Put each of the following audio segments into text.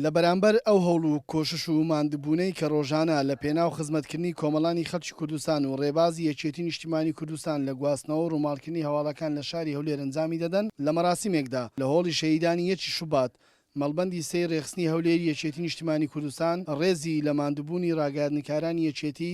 لە بەرامبەر ئەو هەوڵ و کۆشش و ماندبوونەی کە ڕۆژانە لە پێناو خزمەتکردنی کۆمەڵانی خەڵکی کوردستان و ڕێبازی یەکێتی نیشتیمانی کوردستان لە گواستنەوە و ڕووماڵکردنی هەواڵەکان لە شاری هەولێر ئەنجامی دەدەن لە مەراسیمێکدا لە هۆڵی شەهیدانی یەکی شوبات مەڵبەندی سێی ڕێخستنی هەولێری یەکێتی نیشتیمانی کوردستان ڕێزی لە ماندبوونی ڕاگەیاندنکارانی یەکێتی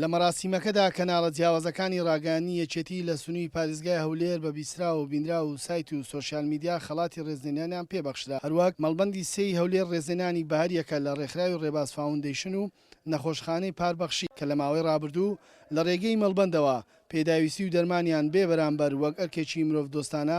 لە مەراسیمەکەدا کەناڵە جیاوازەکانی ڕاگەیاندنی یەکێتی لە سنووی پاریزگای هەولێر بە بیستراو و بینراو و سایت و سۆشیال میدیا خەڵاتی ڕێزلێنانیان پێ بەخشرا هەروەک مەڵبەندی سێ ی هەولێر ڕێزلێنانی بەهەریەکە لە ڕێکخراوی ڕێباز فاوندەیشن و نەخۆشخانەی پار بەخشی کە لە ماوەی ڕابردوو لە ڕێگەی مەڵبەندەوە پێداویستی و دەرمانیان بێ بەرامبەر وەک ئەرکێکی مرۆڤ دۆستانە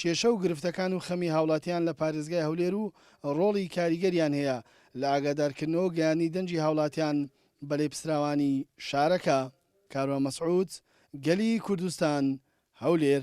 کێشە و گرفتەکان و خەمی هاوڵاتیان لە پارێزگای هەولێر و ڕۆڵی کاریگەریان هەیە لە ئاگادارکردنەوە و گەیاندنی دەنگی هاوڵاتیان بە لێپسراوانی شارەکە. کاروان مەسعود، گەلی کوردستان، هەولێر.